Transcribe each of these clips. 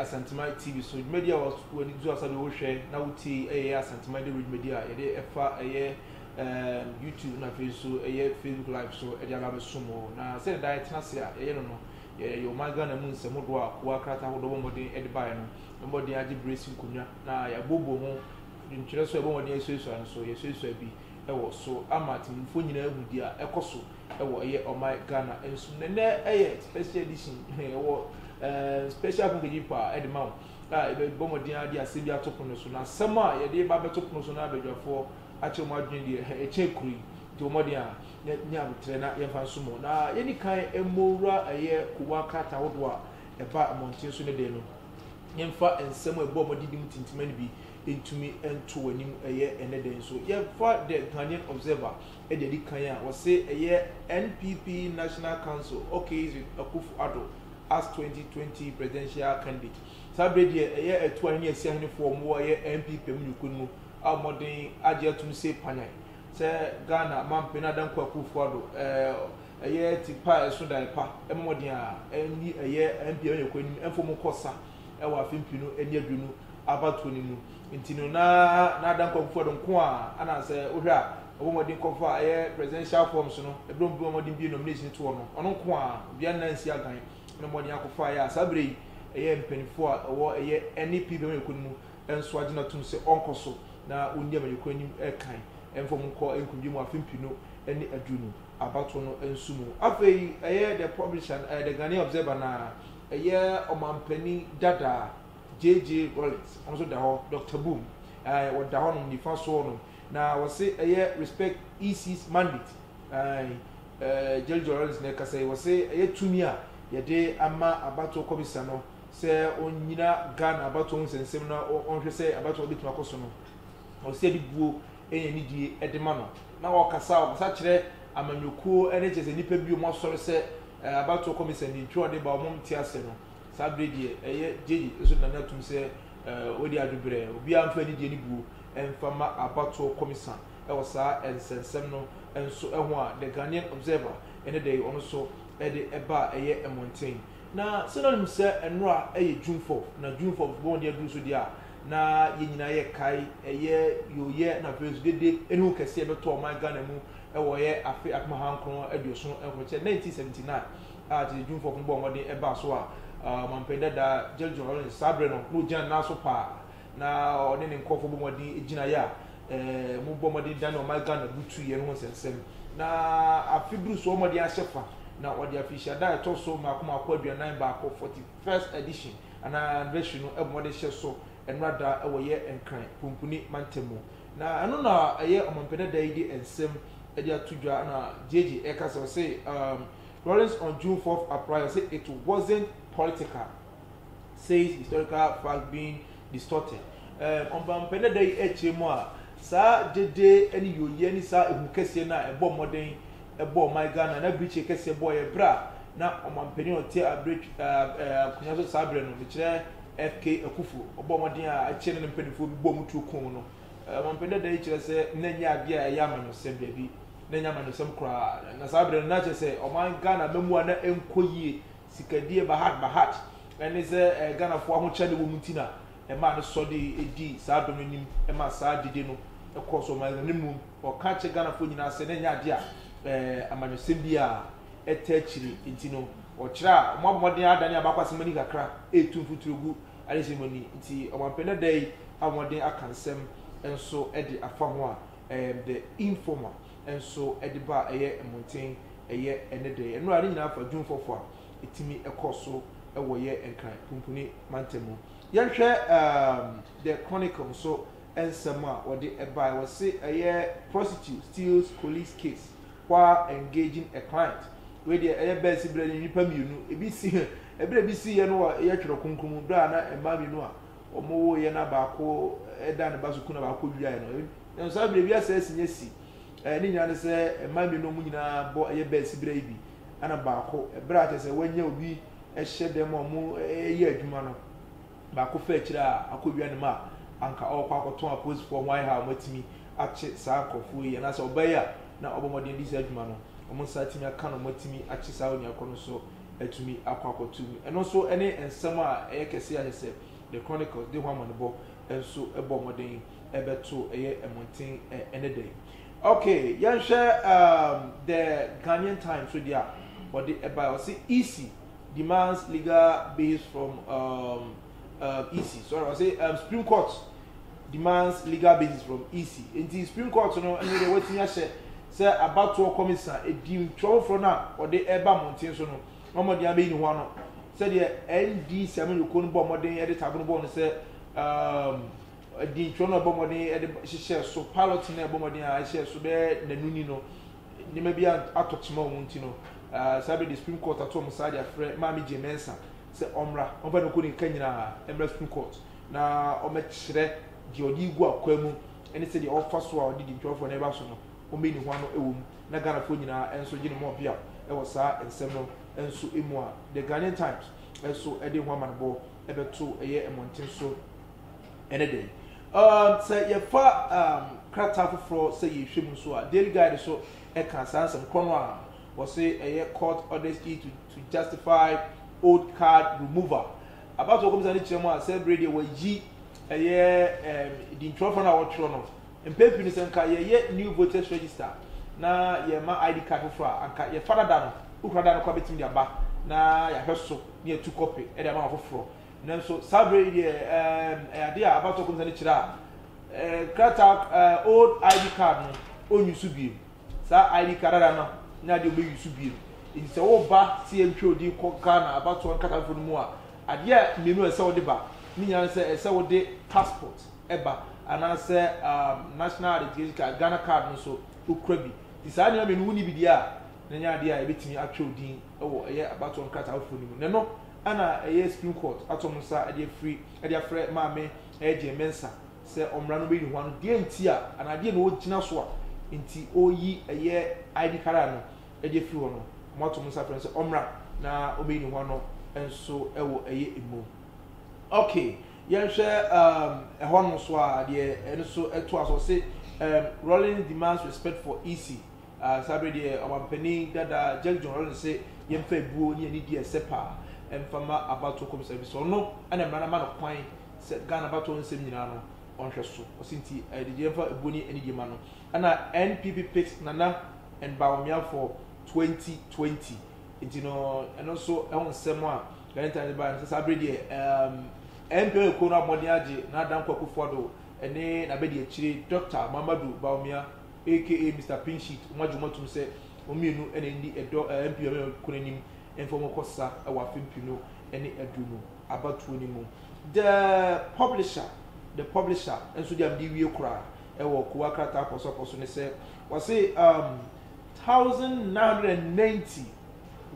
Asantuma TV so dwumadi a w'ani to asa de wohwɛ na wotie ɛyɛ Asantuma de dwumadi a yɛde ɛfa ɛyɛ ɛɛ YouTube na afei nso ɛyɛ Facebook live so ɛde aba bɛsom wɔ na sɛdeɛ da ɛtena ase a yɛyɛ no no Yɛyɛ ɔman Ghana mu nsɛmmo doɔ a kowa krataa ahodoɔ bɔ mmɔden de baeɛ no mmɔden agye berɛ asi nkonnwa na yɛabooboo ho ntwerɛ so a yɛbɔ mmɔden asuasua no so. Yɛasuasua bi wɔ so ama atemmufo nyinaa ahu deɛ ɛkɔ so wɔ ɛyɛ ɔman Ghana nso. Na ɛnnɛ yɛ special edition, yɛwɔ eh, special akonkedzi paa de ma wo a yɛbɛbɔ mmɔden ara de asɛm bi ato pono so. Na asɛm a yɛde ba abɛto pono so na abadwafoɔ akyerɛ wɔn adwene deɛ ɛkyɛn kuro yi nti wɔmmɔden a na nya aboterɛ na yɛmfa nsom wɔn. Na yɛnni kan mmɔ wura ɛyɛ kowa krataa ahodoɔ a ɛba mmɔnten so ne dɛ no. Yɛmfa nsɛm a ɛbɔ wɔn adidi mu tintima no bi ntumi nto wɔn anim ɛyɛ ɛnɛ dɛ nso. Yɛmfa The Ghanaian Observer de adi kan a wɔse ɛyɛ NPP National Council okays with Akufo Addo as 2020 Presidential Candidate. Saa berɛ yi deɛ ɛyɛ Atuahene ne Asiahenefoɔ a wɔwɔ ɛyɛ NPP amanyɔkuo no mu a wɔmmɔden agye atom se panyan. Sɛ Ghana Mampanyin Adam Kwaku Ofo Addo yɛ ti pa a ɛso dae pa ma mmɔden a ɛnni ɛyɛ MP a ɔnyɛ kɔ anim mfom nkɔ sa wɔ afe mpenu ne aduonu abatoɔ no mu nti no na na Adam Kwaku Ofo Addo nko a ana sɛ wohwɛ a ɔbɔ mmɔden kɔfa ɛyɛ presidential forms no ɛberɛ ɔbɔ mmɔden bie nomination toɔ no ɔno nko a dua nna nsi agan na mmɔden akɔfa yɛ a saa berɛ yi ɛyɛ mpaninfoɔ a ɛwɔ ɛyɛ NEP bɛma yɛkɔ no mu nso agye no atom sɛ ɔnkɔ so na ɔnni amanyɔkuo anim kan mfa wɔn nkɔ nkundwe mu afe mpenu ne aduonu abatoɔ no nso mu. Afei ɛyɛ The Publisher no, ɛyɛ The Ghanaian Observer no ara, ɛyɛ ɔmampanin dada JJ Rawlings, ɔno nso da hɔ, Doctor Boom, ae, ɔda hɔnom, nifa so hɔnom, na wɔse ɛyɛ Respect EC's Mandate, ae, ɛɛ, JJ Rawlings na ɛkasa yi, wɔse ɛyɛ tumi a yɛde ama abatoɔ kɔmisa no, sɛ ɔnnyina Ghana abatoɔ ho nsɛnsɛm na ɔnhwɛ sɛ abatoɔ no bɛtumi akɔ so no, ɔsɛ sɛ yɛde buo ne anidie de ma no. Na ɔkasa ɔkasa kyerɛ amanyɔkuo ne kyerɛ sɛ nnipa bi wɔn asɔre sɛ abatoɔ kɔmisa ni nti ɔde ba wɔn nte aseɛ no. Saa berɛ deɛ ɛyɛ gyegye nso nane atom sɛ wɔadi adweberɛ. Obiara mfa anidie ne buo mfa mma abatoɔ kɔmisa wɔ saa nsɛnsɛm no nso ho a The Ghanaian Observer ne dɛn ɔno nso de ba a ɛyɛ mmɔnten. Na sɛ na onim sɛ Enora yɛ Junfɔf, na Junfɔf bɔ mmɔden aduru so deɛ a, na yɛn nyinaa yɛkae ɛyɛ yooyɛ na afei nso dede aniwu kɛse a ɛbɛtɔɔ ɔman Ghana mu wɔ ɛyɛ afe apem ahankron aduoson nkron, kyerɛ 1979, a tete Junfɔf no bɔɔ mmɔden baa so a Ɔmanpanin dada George John Lawrence saa berɛ no na ɔgyina ne nan so paa na ɔne ne nkorɔfoɔ bɔ mmɔden gyinaeɛ a wɔn bɔ mmɔden dane ɔman Ghana butuiɛ no ho nsɛnsɛm na afe duru so wɔn de ahyɛ fa na ɔde afirihyia da a ɛtɔ so mako mako aduanan baako 41st edition anaa anniversary no ɛbɔ mmɔden hyɛ so nnora da wɔ yɛ nkran pumpuni mantam mu na ɛno na ɛyɛ ɔmampɛdɛ da yi de nsɛm ɛde ato dwa na gyegye ɛka sɛ ɔse um, Lawrence on June 4th applied ɔse it wasn't political says historical fact being distorted. Ɛɛ, ɔmpampɛ dada yi kyerɛ mu a, saa gyedie ne yooyɛ ne saa ehu kɛseɛ no a ɛbɔɔ mmɔden bɔɔ ɔman Ghana na birikyi kɛseɛ bɔeɛ berɛ a na ɔmampanin a ɔte abere akonnwa so saa berɛ no, mekyerɛ FK Akufo, ɔbɔɔ mmɔden a akyɛ ne ne mpanimfoɔ bi bɔɔ mu tuo koo no. Ɔmampanin dada yi kyerɛ sɛ na ɛnyɛ adeɛ a ɛyɛ amanyɔsɛm daabi, na ɛnyɛ amanyɔsɛm koraa. Na saa berɛ no na kyerɛ sɛ ɔman Ghana mmamu a na ɛnkɔ yie Sikadie Bahat Bahat ne sɛ Ghanafoɔ ahokyɛde wɔ mu nti na ɛmaa no sɔ de di saa dɔm anim ma saa dede no kɔɔ so ɔman no mu. Na mmom ɔka kyerɛ Ghanafoɔ nyinaa sɛ na ɛnyɛ adeɛ a amanyɔsɛm biara ɛtaa akyire. Nti no ɔkyerɛ a wɔabɔ mmɔden adane abaako asɛm ani kakra retu mfuturo gu adesua mu ani. Nti ɔmampanin ɛda yi abɔ mmɔden aka nsɛm nso de afa ho a, the informer. nso de ba a ɛyɛ mmɔnten, ɛyɛ ɛne dɛ. Nnora a ne nyinaa fa dwumfɔfo a ɛtumi kɔ so wɔ yɛ Nkran punpuni mantam mu. Yɛnhwɛ um The Chronicle nso nsɛm a wɔde bae. Wɔse ɛyɛ Prostitute steals colleague's case while engaging a client. Wei deɛ ɛyɛ bɛsi berɛ ne nnipa mmienu. Ebi si ɛberɛ ebi siiɛ no wɔ yɛ Twerɛ Kronkron mu berɛ a na mmaa mmienu a wɔwoeɛ na baako da ne ba so ku na baako wiaeɛ no. Nanso saa bere yi, wiase asi nya si. Ɛɛ, ne nyinaa ne sɛ mmaa mmienu a wɔn nyinaa bɔ ɛyɛ bɛɛ asibire yi bi, ɛna baako, bere a kyerɛ sɛ wɔanya obi hyɛ dan mu a wɔyɛ adwuma no, baako fa akyire a akɔwia ne ma a anka ɔrekɔ akɔtɔn apolisifoɔ ho ahe a wɔatumi akye saa nkurɔfoɔ yi, anaasɛ ɔbaa yi a na ɔbɔ mmɔden di saa adwuma no, wɔn nsa atumi aka na wɔatumi akye saa onua korɔ no nso atumi akɔ akɔto mu. Ɛno nso ne nsɛm a ɛyɛ kɛse a kyerɛ sɛ The Chronicles de ho amanebɔ nso bɔ mmɔden. ɛbɛto ɛyɛ mmɔnten ɛ ɛnɛ da yi okay yɛnhwɛ um, the ghanaian time so deɛ a wɔde ɛbae ɔse ec demands legal base from um, um, ec sorry ɔse um, supreme court demands legal basis from ec nti supreme court no ɛno deɛ watumi ahyɛ sɛ abatoɔ kɔmisa ɛdi ntwerɛfoforɔ no a ɔde ɛba mmɔnten so no na ɔmɔden abɛyi ne ho ano sɛdeɛ ndc amanyɔkuo no bɔ mmɔden de tagono bɔɔ no sɛ um, Adiyifoɔ no a wɔbɔɔ mmɔden de hyehyɛɛ so, Pilot no a ɛbɔɔ mmɔden a ɛhyɛɛ so bɛyɛ nnanu ni no, nneɛma bi atɔ kyema wɔn nti no, saa berɛ de Supreme Court ato wɔn saa de afrɛ Maame Jane Mensah sɛ ɔmmra, ɔmfa ne nkonimka nyinaa mmra Supreme Court na ɔmmɛkyerɛ deɛ ɔde regu akwaa mu ne sɛdeɛ ɔfa so a ɔde di ntwafoɔ no reba so no, ɔmmɛyi ne ho ano wɔ mu na Ghanafoɔ nyinaa nso gye ne mmɔɔpea wɔ saa nsɛm no nso mu a The Ghanaian Times nso de ho amanebɔ bɛto ɛyɛ mmɔnten so. Ɛne dɛn? Um, sɛ yɛfa um, krataa foforɔ sɛ yɛhwɛ mu nso a, Daily Guide nso ɛka saa nsɛm korɔ no a wɔse ɛyɛ court orders e to, to justify old card removal. Abatoɔ kɔmisa no kyerɛ mu a sɛ bere deɛ wɔayi ɛyɛ um, dintwerɛfoɔ no a wɔtwerɛ no mpɛn pii no sɛ nka yɛyɛ new voters register na yɛma ID card foforɔ a anka yɛfa dada no wokura da no kɔ a bɛtumi de aba na yɛahwɛ so na yɛtu kɔpe de ama wɔn foforɔ Nanso saa bere yi deɛ ɛɛm ɛyɛ adeɛ a abatoɔ kɔmisa no kyerɛ a ɛɛ krataa ɛɛ old ID card no ɔnyi so biem. Saa ID card ara no ne adeɛ ɔbɛyi so biem. Nti sɛ woba sɛ yɛntwerɛ wo din kɔ Ghana abatoɔ nkatafoforɔ no mu a, adeɛ a mmienu a ɛsɛ sɛ wode ba ne nyinaa ne sɛ ɛsɛ sɛ wode passport ba anaasɛ ɛɛm national identification card, Ghana card no nso wokura bi. Nti saa nneɛma mmienu wonni bi deɛ a na ɛnyɛ adeɛ a yɛbɛtumi atwerɛ wo din. wɔ ɛyɛ abatoɔ nkrataa ahodoɔ no mu na ɛno na ɛyɛ Supreme Court ato wɔn nsa de afiri de afrɛ Maame Gyee Mensah sɛ ɔmmra na ɔmmɛyi ne ho ano deɛ nti a anaa deɛ na ɔgyina so a nti ɔreyi ɛyɛ ID Kara no de afiri hɔ no wɔato wɔn nsa afrɛ no sɛ ɔmmra na ɔmmɛyi ne ho ano nso wɔ ɛyɛ emu. Okay, yɛnhwɛ um, ɛhɔ no nso a deɛ ɛno nso ɛtoa so ɔse um, Rawlings demands respect for EC. Saa bere deɛ ɔmampanyin dada Jack John se yɛmfa abuo ne anidie a ɛsɛ paa mfa mma abatoɔ kɔmhyɛn no efisɛ ɔno na mmara no ama no kwan sɛ Ghana abatoɔ nsɛm nyinaa no ɔnhwɛ so. Ɔse nti ɛde yɛmfa abuo ne anidie mma no. Ɛna NPP picked Nana and Bawumia for 2020 nti no ɛno nso ɛho nsɛm a Ghanaian Times de baeɛ no sɛ saa bere deɛ ɛɛm MPN kuo no abɔ mmɔden agye Nana Dankwa Akufo-Addo ne n'abadiakyire Dɔkta Mamadou Bawumia aka Mister Pinchit, wɔn agye wɔn atum sɛ wɔn mmienu na ɛndi ɛdɔ a MP Bamia kɔ n'anim mfa wɔn kɔ sa wɔ afe mpenu ne aduonu abatoɔ no mu. The Publisher The Publisher nso deɛ a mede wie koraa wɔ Kowaa krataa apɔsɔpɔ so ne sɛ wɔse um, thousand nine hundred and ninety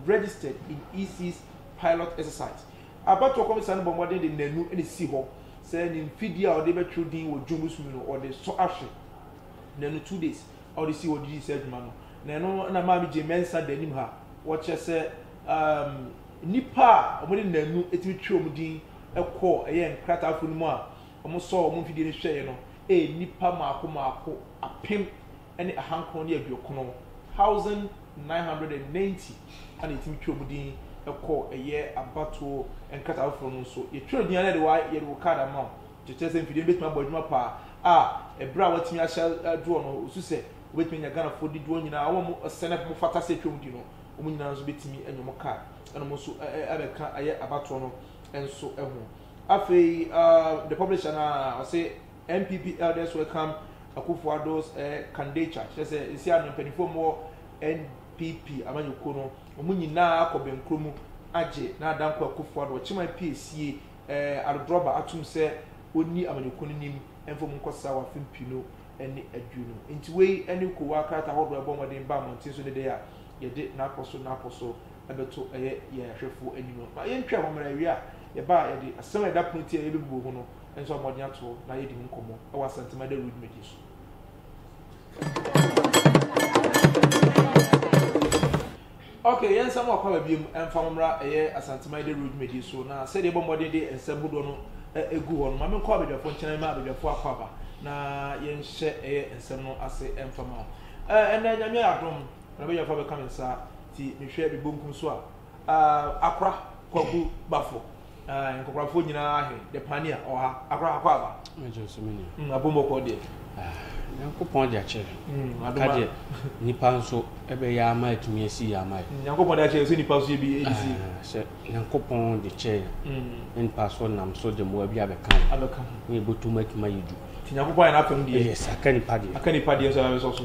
registered in EC's pilot exercise. Abatoɔ kɔmisa no bɔ mmɔden de nanu na ɛsi hɔ sɛ ne mfidie a wɔde bɛtwerɛ din wɔ June bosomi no wɔde sɔ ahwɛ. Na no two days a wɔde sii hɔ de dii saa dwuma no, na ɛno na ɛmaa megye Mensah da anim ha. Wɔkyerɛ sɛ um, nnipa a wɔde nnaanu tumi twerɛ wɔn din kɔɔ ɛyɛ nkrataafo no mu a wɔsɔɔ wɔn mfidie no hwɛeɛ no yɛ nnipa mmaako mmaako apem ne ahankron ne aduokron, thousand nine hundred and ninety, ɛna yɛtumi twerɛ wɔn din kɔɔ ɛyɛ abatoɔ nkrataa foforɔ no nso. Yɛtwerɛ din a na yɛde wo kaad ama wo. Kyerɛ sɛ mfidie no bɛtumi abɔ adwuma paa a, ɛberɛ a wɔatumi ahyɛ doɔ no, wɔsu sɛ wɔbɛtumi anya Ghanafoɔ didoɔ nyina a wɔn a sɛnɛ wɔn fata sɛ ɛtwa wɔn di no, wɔn nyina nso bɛtumi anya wɔn car na wɔn nso abɛka ayɛ abatoɔ no nso ho. Afei the publisher no a, ɔse NPP elders welcome Akuffo Addo's candidature, kyerɛ sɛ ɛsi ano mpaninfoɔ a wɔwɔ NPP amanyɔkuo no, wɔn nyina akɔ bɛnkuro mu agye Nana Dankwa Akuffo Addo, Ɔkyeman piesie, adɔdɔrɔba atum sɛ onnyi amanyɔkuw no nyim mfa mu nkɔsera wɔ afe mpiinu nye eduonu. Ntsi wei nye kowaa krataa horow a yɛbɔ mbɔden ba mbɔntsen so ne dɛ a yɛde n'apɔso n'apɔso bɛto yɛ hwɛfo enyim no. Ma yentwɛn hɔ mara, ewie a yɛba a yɛde asɛm a yɛda pon tsiei a yebebubu ho no so abɔ mbɔden ato hɔ na yɛadi ho nkɔmbɔ wɔ Asantema Dawur dwumadzi so. Ok, yɛn nsa mu wɔ Kwaba biom ɛmfa ho mmra ɛyɛ Asante Mayede Road dwumadie so na sɛdeɛ yɛbɔ mmɔden de nsɛm hodoɔ no ɛgu hɔ no ma menkɔ abadwafoɔ nkyɛn na mema abadwafoɔ akɔ aba na yɛnhyɛ ɛyɛ nsɛm no ase ɛmfa ma wo ɛnɛ Nyame ayɛ adom na abadwafoɔ abɛka me nsa ti mehwɛ me bonkum so a Akora Kwaku Bafo Ae, nkɔkorafoɔ nyinaa ahe, the pania, ɔha, akora akɔ aba. Magye nso me nua. Mm, abom ɔkɔ deɛ. Ah, Nyankopɔn de akyɛ. Mm, aka deɛ, nipa nso ɛbɛyɛ ama atumi asi yɛ ama yɛ. Nyankopɔn de akyɛ sɛ nipa nso yɛ bi ɛdisi. Ah, sɛ Nyankopɔn de kyɛ yɛ. Mm. Ne nipa so nam so de mmoa bi abɛka yɛ. Abɛka. Ne ɛbɔtum atumi ayɛ du. Ti Nyankopɔn ayɛ n'apɛm deɛ. Yes, aka nipa deɛ. Aka nipa deɛ nso abɛsɔ so.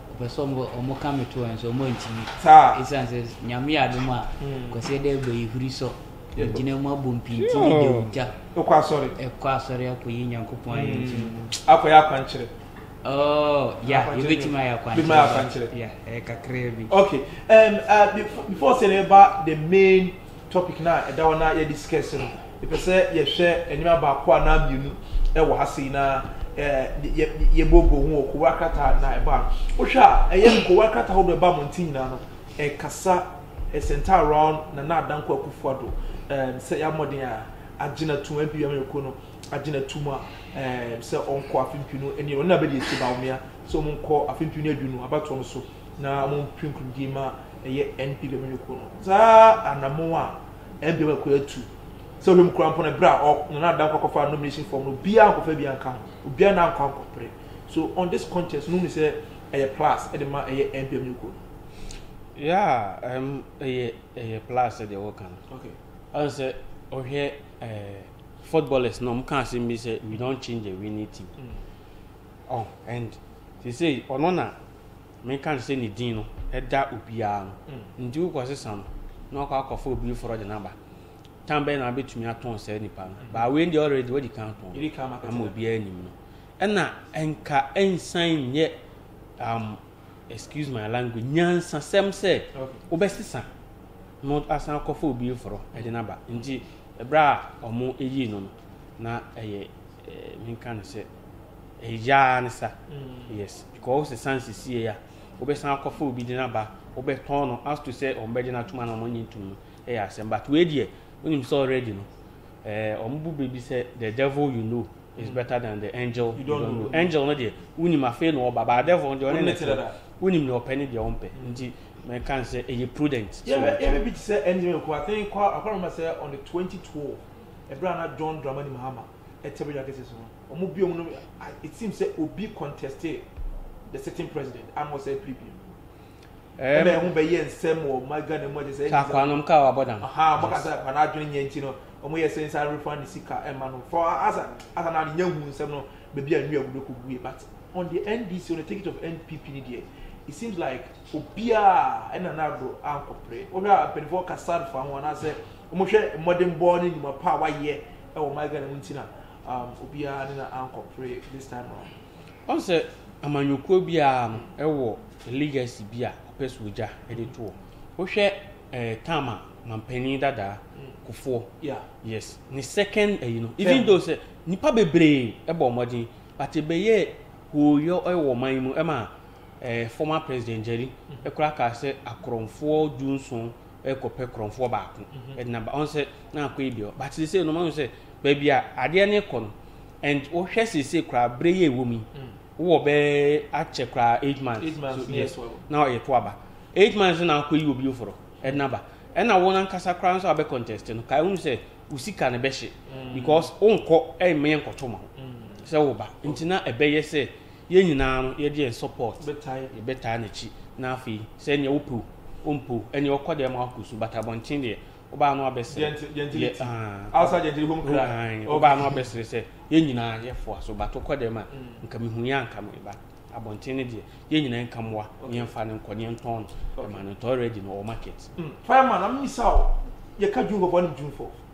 Wɔpɛ sɛ wɔka me to nso wɔantumi. Ɛsiane sɛ Nyame yɛ adom a Kwasi ɛdɛ ɛbɛ yi huri sɔ. Ɛgyina mu abɔ mpinti ne de ogya. Ɛkɔ asɔre. Ɛkɔ asɔre akɔyi Nyankopɔn ayɛ nti. Akɔyɛ akwankyerɛ. Oh, yeah, yɛbɛtumi ayɛ akwankyerɛ. Bɛtumi ayɛ akwankyerɛ. Yeah, ɛyɛ kakraa bi. Okay, um, uh, before, before sɛ ɛba the main topic no a ɛda hɔ na yɛde si kɛse no, mepɛ sɛ yɛhwɛ nneɛma baako anaa mmienu wɔ ha sei na yɛbɔbɔ ho wɔ nkowa krataa na ɛba no. Wohwɛ a, ɛyɛ nkowa krataa ahodoɔ ɛba mmɔnten nyinaa no, ɛkasa ɛsɛnta around Nana Adanko Akufo-Addo sɛ yɛ mmɔden a agye na tum MP Amanyɔkuo no agye na tum a sɛ ɔnkɔ afe mpem no ɛne ɔno na bɛdi akyire Bawumia sɛ wɔn nkɔ afe mpem no adu no abatoɔ no so na wɔn mpem nkurumdie ma ɛyɛ NP Lomini kuo no saa anamon a NPM akua atu sɛ ɔhwɛ mu kura mpo no berɛ a Nana Adda nkɔ akɔfa nomination form no obiara ankɔfa bi anka ho obiara na ankɔ ankɔpere so on this contest no ni sɛ ɛyɛ plus ɛde ma ɛyɛ NPM Lomini kuo no. Yeah, um, ɛyɛ ɛyɛ plus deɛ wɔka no. Okay. Ɔn sɛ ɔhwɛ ɛɛ eh, footballers na ɔmo ka asɛm bi sɛ we don't change the winning team. Mm. Oh, and they say ɔno na Menka no sɛ ne din no da obiara no nti wokɔ sesa no na wakɔ akɔfa obi foforɔ de no aba tan bɛyɛ na wabɛtumi atɔn saa nipa no mm. baa wei deɛ already wadi kan tɔn ama obiara anim no ɛna ɛnka ɛnsan nyɛ um, excuse my language nyansasɛm sɛ wobɛsesa no asan akɔfa obi foforɔ de no aba nti ɛberɛ a ɔmo ɛyii no no na ɛyɛ eh, menka no sɛ ɛyaa ne sa mm. yes Kɔ wo sesan sesiei a wobɛsan akɔfa obi de no aba wobɛtɔn no as to sɛ wɔn bɛgye no atom anaa wɔn nye ntom no yɛ asɛm but wei deɛ wonim sɛ already no eh, wɔn bu bɛ bi sɛ the devil you know is mm. better than the angel you don't know angel no deɛ wonim afei na ɔba but devil no deɛ ɔne ne te wonim deɛ ɔpɛ ne deɛ ɔmpɛ mm. nti mɛka n sɛ ɛyɛ prudent yɛbɛ bi te sɛ ɛngyeme nko I think akɔrɔma sɛ on the 2012 ɛberɛ a na John Dramani Mahama ɛte bɛdwa kɛse so no wɔn biom no it seems sɛ obi contested the sitting president ama ɔsɛ ppp no ɛna ɛho bɛyɛ nsɛm wɔ ɔma ghana mu agye sɛ ɛnyɛ akwa nom kaa wabɔ dam aha ɔmo kasa akwa no adwene nyɛ nti no ɔmo yɛ sɛ nsa refund ne sika ɛma no for asa asa na nyɛ hu nsɛm no baabi a nnua gudo kɔgui but on the ndc on the ticket of npp ne deɛ it seems like obiara ɛna n'ado ankɔpere wohwɛ a mpanimfoɔ kasa fa ho anaasɛ Wɔhwɛ mmɔdenbɔ ne nnwuma pa a wayɛ wɔ my Ghana mu nti na obiara ne no ankɔpere this time round. Wahu sɛ amanyɔkuo biara no wɔ legacy bi a ɔpɛ sɛ ɔgya de to hɔ. Wohwɛ term a Mampanin dadaa Kufuor, yes, ne second ayi no, even though sɛ nnipa bebree bɔɔ mmɔden but ɛbɛyɛɛ hooyɔ wɔ ɔman yi mu ma former president Njeri koraa kaa sɛ akorɔmfoɔ du nson rekɔpɛ korɔmfoɔ baako mhm. ɛde naba ɔn sɛ na akɔ yi deɛ but sese no ɔn sɛ baabi a adeɛ no kɔ no and wohwɛ sese koraa bere yɛ ɛwɔ mu yi mm. wowɔ bɛɛ akyɛ koraa eight months eight months yes na ɔyɛ to aba eight months na akɔ yi obi oforo ɛde naba ɛna wɔn ankasa koraa nso abɛ contest no kaa ehun sɛ osika no bɛhyɛ mm. because onkɔ ɛmɛ yɛ nkɔtɔ ma ho mm. sɛ woba nti na ɛbɛyɛ sɛ. Yɛn nyinaa no yɛgye yɛn support yɛbɛtaa nakyi na afei sɛ ɛneɛ wopɛ o ompo ɛneɛ ɔkɔ dɛɛ ma wakɔ su but abɔnten deɛ wobaa no abɛsere wobaa no abɛsere sɛ yɛn nyinaa yɛfoa so but wokɔ dɛɛ ma nka mehu yɛ anka me ba abɔnten no deɛ yɛn nyinaa nka mmoa neɛ mfa no nkɔ neɛ ntɔn no ɛma no ntɔ already no ɔwɔ market. Fireman na mimisa o yɛka dwumfo fo anim dwumfo.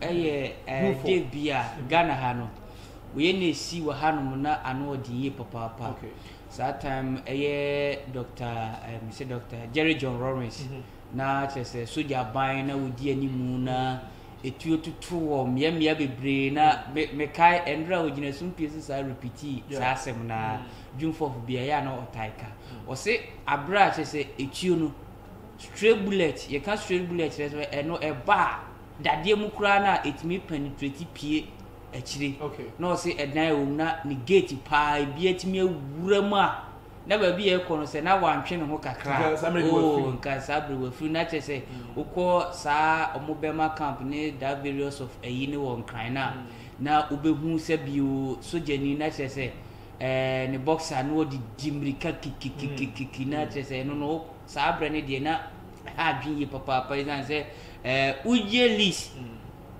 Ɛyɛ dɛ bi a Ghana ha no woyɛ na esi wɔ ha nom na ano ɔden yie papaapa. Saa time ɛyɛ Dɔkta ɛm sɛ Dɔkta Jerry John Rawlings mm -hmm. na kyerɛ sɛ sogya aban na wodi anim na etuo tutu wɔ mmeammea bebree na mm-hmm. mekae me ɛnora a ogyina sumpie so saa repiti saa asɛm na mm-hmm. dwumfɔfo bi ɛyɛ a na ɔtae ka mm-hmm. ɔse abere a kyerɛ sɛ etuo no straight bullet yɛka straight bullet kyerɛ sɛ ɛno ɛba a dadeɛ mu koraa no a ɛtumi penetrate pue akyire na ɔse ɛdan ɛwɔ mu na ne gate paa ebi atumi awura mu a na baabi a ɛkɔ no sɛ na wantwe ne ho kakra oo nka saa bere wafiri na kyerɛ sɛ wokɔ saa ɔmo bɛma camp ne da various of ayi ne wɔ nkran no a na wobɛhu sɛ bio sogyani na kyerɛ sɛ ɛɛ ne boxer na ɔde di mmirika kikikikikiki na kyerɛ sɛ ɛno no saa berɛ no deɛ na Ɛha adwene ye papaapa esiane sɛ ɛɛ wogye lease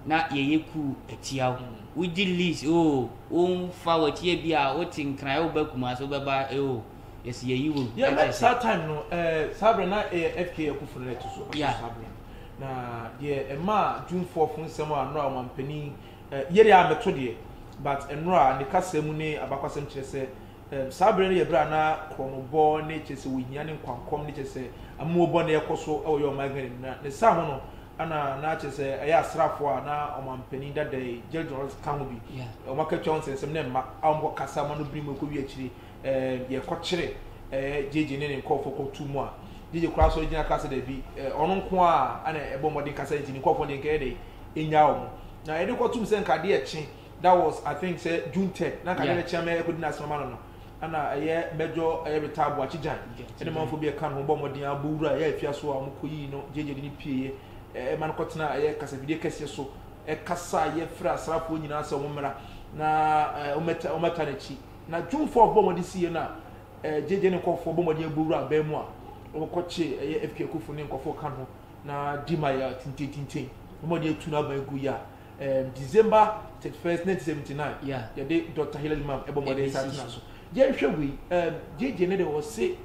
na yɛyɛ kuu atia wo. Wogye lease oo, womfa w'akyi ebi a wote Nkran woba Kumasi wobɛba oo, yɛse yɛyi wo gu. Yɛ ɛkyɛ sɛ. Saa time no ɛɛ saa berɛ na ɛyɛ FKA Akuffo no na ɛto so Yeah. saa berɛ no. Na deɛ ɛmaa Jumfoɔ fo nsɛm a nnora Ɔmanpanin ɛɛ Yeria mmɛto deɛ but nnora ne kasa mu ne abakwasɛm kyerɛ sɛ Saa bere no yɛ bere a na korɔnobɔ ne kyerɛ sɛ ohia ne nkwankɔm ne kyerɛ sɛ amuo bɔne rekɔ so wɔ yɛ ɔman Ghana mu. Na ne saa ho no na na kyerɛ sɛ ɛyɛ asraafo a na ɔmanpanin dada yi, James Johnson ka ho bi. Wɔakɔtua wɔn nsɛnsɛm ne mma a wɔkɔkasa ma no bere mu rekɔwie akyiri. Yɛkɔkyere JJ ne ne nkurɔfoɔ kɔto mu a, JJ koraa sɔre gyina kaa sɛ dabi, ɔno nko ara na ɛbɔ mmɔden kasa nti ne nkurɔfoɔ deɛ nka ɛyɛ dɛ, ɛnyaa wɔn. Na yɛde kɔto mu sɛ nka adeɛ rekye. That was I think sɛ June third na nka deɛ bɛkyea mɛ ɛkɔdi no asɛm ama no no ɛna ɛyɛ Mɛjɔ ɛyɛ Ritah Boakye Gyan ɛne manfoɔ bi a ɛka ne ho bɔɔ mmɔden abɔ wura ɛyɛ Afiaso a wɔn kɔyii no gyegye de no pieeɛ ɛɛ ma no kɔtenaa ɛyɛ kasafidie kɛseɛ so ɛkasaeɛ frɛɛ asraafoɔ nyinaa sɛ wɔn mmra na ɛɛ wɔmmɛta wɔmmɛta n'akyi na June fourth bɔɔ mmɔden siiɛ no a ɛɛ gyegye ne nkɔfoɔ bɔ mmɔden abɔ wura abɛn mu a wɔkɔkyee ɛyɛ FK Akuffo ne nkɔfoɔ ka ne ho na Dima yɛ tintentinten bɔ mmɔden atu n'aban gu yɛ a Ɛɛm December thirty first nineteen seventy nine Yeah. yɛde Doctor Hilary Mam ɛbɔ mmɔden Ɛbɛsi sɛ atena so. so. Yɛnhwɛ wei ɛɛm JJ ne deɛ ɔse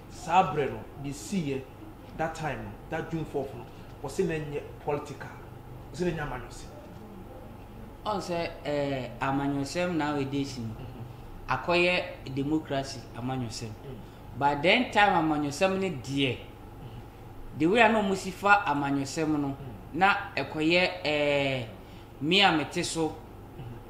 saa berɛ no deɛ ɛsiiɛ that time no that June fourth no ɔse na ɛnyɛ political ɔse na ɛnyɛ amanyɔsɛm. Ɔn sɛ ɛɛ amanyɔsɛm nowadays no akɔyɛ democracy amanyɔsɛm but then time amanyɔsɛm no deɛ Dawur a nna wɔsi fa amanyɔsɛm no, na ɛkɔyɛ ɛɛ me a mete so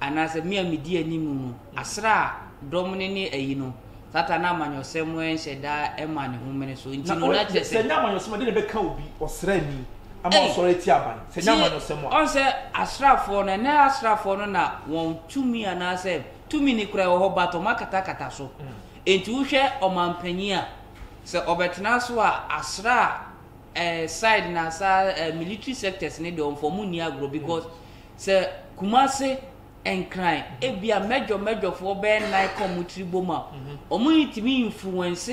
anaasɛ me a medi anim no, asra dɔm no ne ayi no. Satan na amanyɔsɛm nhyɛ da ma ne ho mene so. Nti no, na kyerɛ sɛ. Sɛ ɛnyɛ amanyɔsɛm a, dɛn na ɛbɛka obi, ɔsraani, ama wasɔre atia aban? Sɛ ɛnyɛ amanyɔsɛm a. Ɔn sɛ asraafoɔ no, ɛnnɛ asraafoɔ no na wɔn tumi anaasɛ tumi no koraa wɔ hɔ but wɔakatakata so. Enti wohwɛ ɔmampanyin a, sɛ ɔbɛtena so a, asra eh, side na sa eh, military sectors ne deɛ ɔmfa ɔmo nni agorɔ because sɛ Kumase Nkran ebia mɛdwɔ mɛdwɔfoɔ bɛyɛ nnan ka ɔmo tiri bom a, ɔmo ntumi influence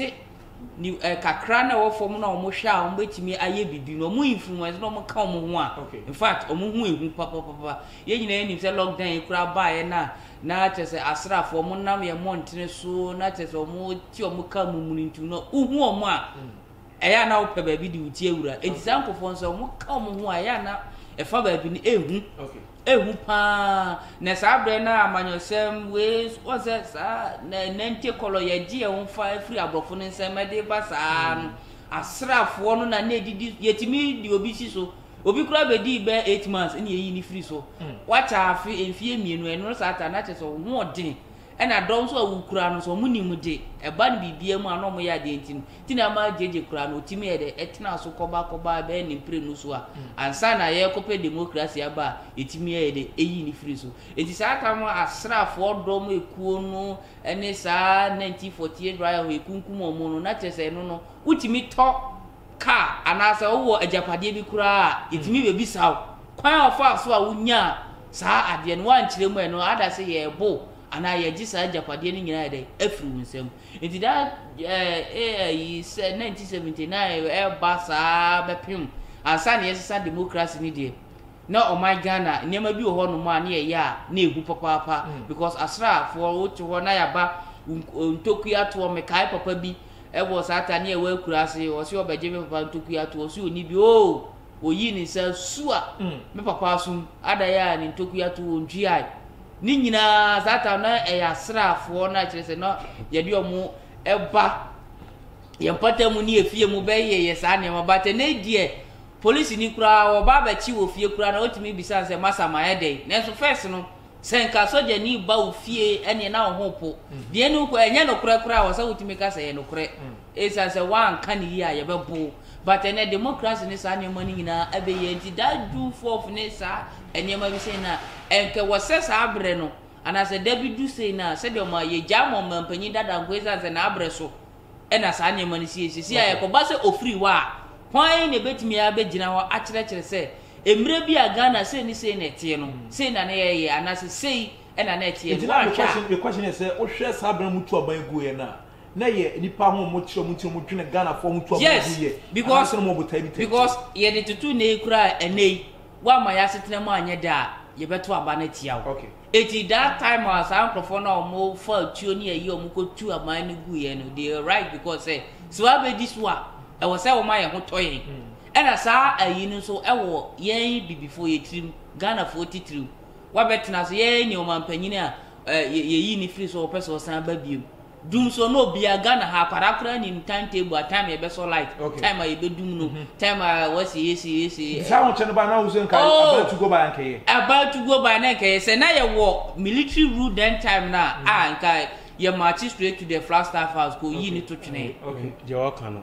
ni eh, kakra na ɛwɔ fam na ɔmo hwɛ a ɔmo bɛtumi ayɛ bibi no ɔmo influence na ɔmo ka ɔmo ho a Okay. in fact ɔmo ho ehu papapapa yɛn nyinaa yɛnim sɛ lockdown yi koraa baeɛ no a Na kyerɛ sɛ asraafoɔ, ɔmo nam yɛn mmɔntene so, na kyerɛ sɛ ɔmo te ɔmo kaa mu mununtum no, wohu ɔmo a, ɛyɛ a na wopɛ baabi de wo ti awura. Enti saa nkorɔfoɔ no sɛ ɔmo ka ɔmo ho a, ɛyɛ a na ɛfa baabi no ehu, ehu paa. Na saa berɛ no a amanyɔsɛm wei, wɔn sɛ saa na nante kɔlɔ yɛgye yɛn ho fa firi aborɔfo no nsam ɛde ba saa no, asraafoɔ no na na edidi, yɛtumi de obi si so Obi koraa bedii bɛyɛ eight months ɛna yɛyi no firi so. Wakyɛ afe, mfeɛ mmienu, ɛno no saa ata no na kyerɛ sɛ ɔhoɔden ɛna dɔm nso a wokura no nso wɔn nim de ɛba no biribiara mu a na wɔyɛ adeɛ nti no ti na ama gyegye koraa no ɔtumi yɛ dɛ ɛtena so kɔba kɔba ɛbɛyɛ ne mprenu so a ansa na yɛrekɔpɛ demokrasi aba a ɛtumi yɛ dɛ ɛyi no firi so nti saa ata no asraafoɔ dɔm ekuo no ɛne saa 1948 riot ɛkunkum wɔn no na kyerɛ sɛ ɛno no wotumi tɔ kaa anaasɛ wowɔ agyapadeɛ bi koraa a, yɛtumi bɛbisa wo kwan a wɔfaa so a wonyaa saa adeɛ no. Woankyerɛ mu a, ɛno ada sɛ yɛrebo wo anaa yɛregye saa agyapadeɛ no nyinaa ayɛ dɛn? Afiri wo nsam. Nti daa eh, ayi sɛ 1979 ɛreba saa bɛpem ansa na yɛsesa democracy no deɛ, na ɔman Ghana nneɛma bi wɔ hɔnom a na yɛyɛ a na ɛhu papaapa because asraafoɔ wote hɔ na yɛaba wo ntokua toɔ. Mekae papa bi. Ɛwɔ saa atane a ɛwɔ akura ase ɔse ɔbɛgye me papa ntokua ato ɔse ɔni bi oo ɔyii ne nsa su a me papa asum adan a ne ntokua ato ɔntwiae ne nyinaa saa tam na ɛyɛ asraafoɔ na kyerɛ sɛ na yɛde ɔmo ɛba yɛn pata mu ne efie mu bɛyɛ yɛ saa nneɛma ba tɛ ne deɛ polisi ni koraa ɔba abɛkye wɔ fie koraa na ɔtumi bisa sɛ masa ma ɛdɛn nanso fɛs no Sɛ nka sogyani ba wo fie ɛneɛ na wo ho repo. Deɛ ɛne wokɔ ɛnyɛ nokorɛ koraa wɔ sɛ wotumi ka sɛ ɛyɛ nokorɛ ɛsiane sɛ woanka no yie a yɛbɛpo wo. But ɛnɛ democracy ne saa nneɛma no nyinaa abɛyie nti that June fourth ne saa nneɛma bi sei no a ɛnka ɛwɔ sɛ saa berɛ no anaa sɛ da bi du sei no a sɛdeɛ ɔma yɛgyaa ma ɔmanpanyin dada nko ɛsiane sɛ n'abrɛ so ɛna saa nneɛma no sie. Seesei a ɛkɔba sɛ ɔfiri hɔ a hwan na ɛbɛtumi abɛgyina hɔ akyerɛkyerɛ sɛ Mmerɛ bi a Ghana sei ne sei na ɛteɛ no, sei na na yɛyɛ anaasɛ sei na na ɛteɛ no, woanhwɛ a. Nti na me question ne sɛ, wohwɛ saa berɛ a wɔtu aban guiɛ no a, na ɛyɛ nnipa ahoɔmɔkyerɛ mu nti na wɔdwene Ghanafoɔ ho tu aban Yes, guiɛ anaasɛ na wɔwɔ botaeɛ bi tɛtrɛtɛ? because yɛde toto nnɛ yi koraa a, ɛnnɛ yi, woamma yɛn asetena mu anyɛ dɛ a, yɛbɛto aba no atia wo. Okay. Nti that time a saa nkorɔfoɔ no a wɔfa atuo ne ayi a wɔkɔtu aban no guiɛ no, they are right because sɛ, sɛ wɔabɛdi so a, ɛwɔ sɛ wɔma yɛn ho tɔ yɛn. Ɛna saa ayi no nso ɛwɔ yɛn bibifoɔ yɛ tirim, Ghanafoɔ titiriw. Wabɛtena so, yɛn ne ɔmanpanyin a ɛ yɛ yi no firi so ɔpɛ sɛ ɔsan ba biom. Dum so na obia, Ghana ha akwadaa koraa nim time table a time a yɛbɛsɔ light, time a yɛbɛdum no, time a wɔasi esi esi. Nti saa ahokyɛ no baa na woso nka oh, about to go by anka yɛ. About to go by na nka yɛ, sɛ na yɛ wɔ military rule then time no a, ah nka yɛ march straight to the Flagstaff house kɔ yi ne to twene. Okay, deɛ ɔka no.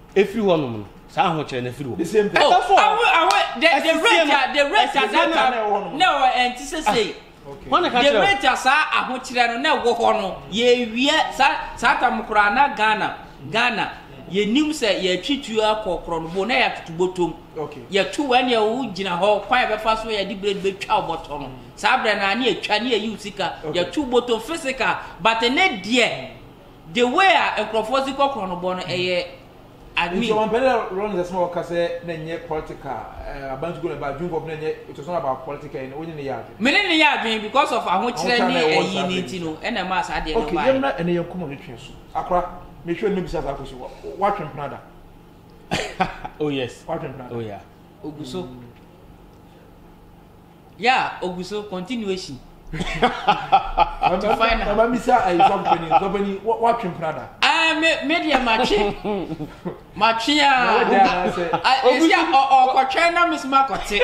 Efiri hɔ nom no, saa ahokyerɛ no firi hɔ. The same thing. Oh, Ɛtafo a. awe, awe, the, the Ɛsisi rate, no. a- the rate at Ɛsisi that no a na time, ɛwɔ hɔ no. na ɛwɔ ɛnti sɛ sei. Wɔn na ka The kyerɛ. rate a saa ahokyerɛ no na ɛwɔ hɔ no, yɛwie saa saa tam koraa na Ghana, Ghana, yɛnim sɛ yɛatwi tuo akɔ korɔnobo na yɛatoto bɔtɔm. Okay. Yɛto wɔ ɛne ɛwo gyina hɔ, kwan a yɛbɛfa so yɛde blade bɛtwa wo bɔtɔ no. Saa berɛ no a ne yɛtwa ne yɛyi wo sika, Okay. yɛto bɔtɔm physical, but ne deɛ The way a nkorɔfoɔ dze kɔ korɔn no bɔ no ɛyɛ admin. Nti ɔmampanin na Rawlings asɛm a ɔka sɛ na ɛnyɛ political eh, aban tukuu na ɛba adwene kɔɔpo na ɛnyɛ it was not about political yi no wonye ne yɛ adwene? Me ne no yɛ adwene because of ahokyerɛ ne ayi no nti no ɛna ɛmaa saa adeɛ no baeɛ. Ok yɛmmra ɛnɛ yɛn nkɔmmɔ no twe so. Akora mehwɛ wo no mɛbisa saa question wa watwe mpena da? Oh yes. Watwe mpena da? Oh yeah. Ogu so. Yeah ogu so continuation to final. Mama mi sa ayi sɔpɛni sɔpɛni wa twi mpira da. Ɛɛ eh, me me deɛ ma twi ma twi aa esi a ɔkɔtwɛn na mi so ma kɔte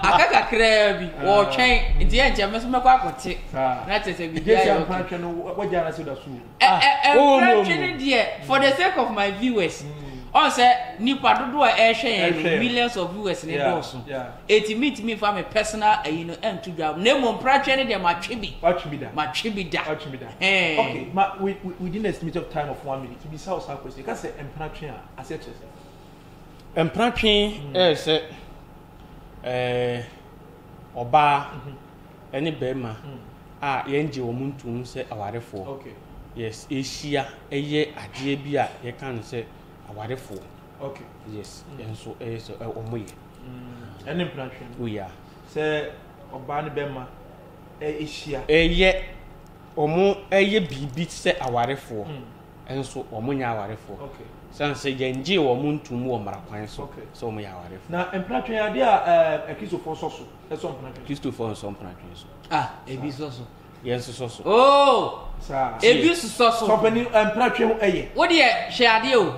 aka kakraa bi ɔɔtwɛn nti yɛ nkyɛn mi so mɛkɔ akɔte na kyerɛ sɛ bibi ayɛ ɔkè. Ɛ ɛ mfra twi no deɛ for the sake of my viewers ɔn sɛ nipa dodoɔ a ɛrehwɛ yɛn no millions of viewers ne dɔɔso eti mi ntumi nfa mi personal ayi no ɛnto dwa na emu mpra twɛ no deɛ ma twe bi ma twe bi da ɛɛ. okay ma we we within estimate of time of one minute bisa ɔsa akɔ esi kasɛ mpra twe a ase kyerɛ sɛ. mpra twe ɛyɛ sɛ ɛɛ ɔbaa. ne barima a yɛngye wɔn ntom sɛ awarefoɔ. Okay. Yes, yɛhyia yɛ adeɛ bi a yɛka no sɛ awarefoɔ. Okay. Yes, yɛn mm. nso ɛyɛ sɛ wɔn yɛ. Mm. Ɛne mprantwe no. Oya. Oh, sɛ ɔbaa ne bɛma ɛhyia. Ɛyɛ wɔn ɛyɛ biribi sɛ awarefoɔ. Mm. Ɛnso wɔn nyɛ awarefoɔ. Okay. Sɛn sɛ yɛngye wɔn ntom wɔ mmara kwan so sɛ wɔn yɛ awarefoɔ. Na mprantwe adeɛ a ɛkristofoɔ sɔ so. Ɛsɔ mpena twe. Kristofo nsɔ mpena twe so. Ah, ebi sɔ so. Yɛn sosɔ so. Oh! Saa. Ebi sosɔ so. Sɔpani mpena twe ho ɛyɛ. Wo deɛ hwɛ adeɛ o.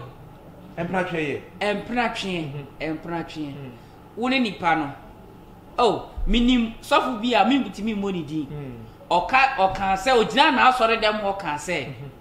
Mpena twe yɛ. Mpena twe, mhm. mpena twe. Mhm. Wo ne nipa no. Oh, menim sɔfo bi a mentumi mmɔ ne din. Mhm. Ɔka ɔka sɛ ogyina n'asɔre dɛm ɔka sɛ. Mm -hmm.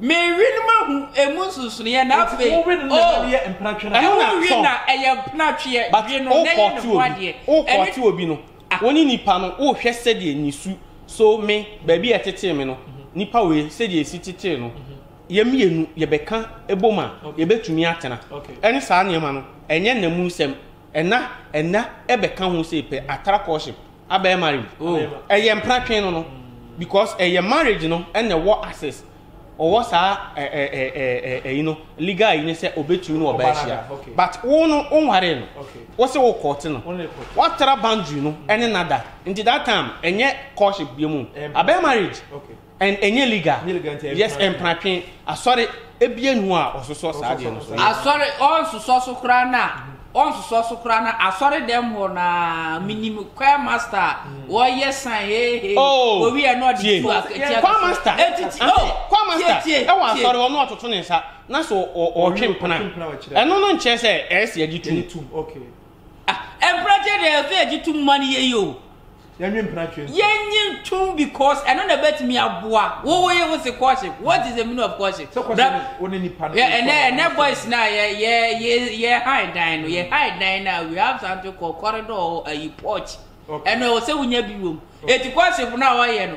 Mewe no mahu emu nsonsonoeɛ na Nti afei wowe no na ɛma no yɛ mpratwe no a. Ɛho na Wowe sɔ. na ɛyɛ mpratweɛ, But we no na ɛyɛ ne wokɔɔte ho obi, adeɛ. Ɛne wokɔɔte obi no, wo ne nipa no wohwɛ sɛdeɛ ne su, so me, baabi a ɛtetee me no, nipa wei sɛdeɛ ɛsi tetee no, yɛn mmienu yɛbɛka bom a, Okay. yɛbɛtumi atena. Okay. Ɛne saa nneɛma no, ɛnyɛ nnamu nsɛm. Ɛna ɛna ɛbɛ ka ho sɛ pɛ atara courtship abɛyɛ marriage oh. ɛyɛ mpra twen no no because ɛyɛ marriage no ɛna ɛwɔ access ɔwɔ saa ɛɛ ɛɛ ɛɛ ɛyi no legal yi ne sɛ ɔbɛtumi no ɔbɛ ahyia but wo no wo nware no wo sɛ wo kɔɔte no watara boundary no ɛne nada nti that time ɛnyɛ courtship bi mu abɛyɛ marriage. Okay. And ɛnyɛ legal. Ɛnyɛ legal nti ɛyɛ Yes, mpratwe. mpratwe. Asɔre, ebia nni hɔ a ɔsosɔ saa adeɛ no so. Ɔsosɔ. Asɔre, ɔnsosɔ so koraa no a, ɔnsosɔ so koraa no a, asɔredɛm hɔ no ara, menim choir master a, ɔyɛ sign, hey, hey, Oh! owie a na ɔde Tie. tu ak- tia Choir master, Eti ti- ante, oh, choir master, tie, tie, ɛwɔ tie. asɔre hɔ na ɔtoto ne nsa, na sɛ ɔ- ɔ- ɔtwe Ɔtwe mpena. mpena ɔkyerɛ. Ɛno no nkyerɛ sɛ ɛyɛ sɛ yɛgye tom. Yɛgye tom, okay. Ah, mpratwe deɛ ɛsɛ yɛgye tom ma no yɛyi o. Yɛnwe mpena twe nso. Yɛnye ntom because ɛno na ɛbɛtumi aboa wo wo ye wo se courtship what is the meaning of courtship. Sɛ courtship ne wo ne nipa no. Yɛ ɛnɛ ɛnɛ boys na yɛ yɛ yɛ yɛ high dan no yɛ high dan na we have something called corridor ayi porch ɛno ɛwɔ sɛ wonya bi wɔ mu eti courtship na wɔyɛ no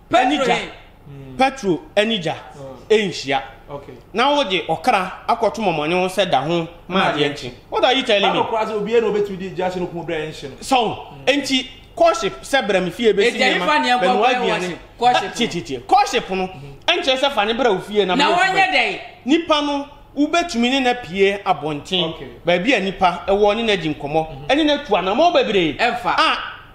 Petro he? Petro ne gya nhyia. Na wogye ɔkra akɔto mɔmɔne ho sɛ da ho ma adeɛ nkye. What are you telling me? Bible koraa sɛ obiara na obetumi de gya ahyɛ no kum berɛ a ɛnhye no. So, enti courtship sɛ bra me fie bɛsi nneɛma, bɛnoa aduane. Ɛgya he fa nea ɛbɔ bɛyɛ wɔhyɛ courtship no? Tietietie. Courtship no nkyerɛ sɛ fa ne bra wo fie na me ne wo bɛyɛ. Na wɔnyɛ dɛn? Nipa no wobetumi ne no apue abɔnten, baabi a nipa wɔ, ne no adi nkɔmmɔ, ne no atu anamɔn bebree. Ɛmfa. A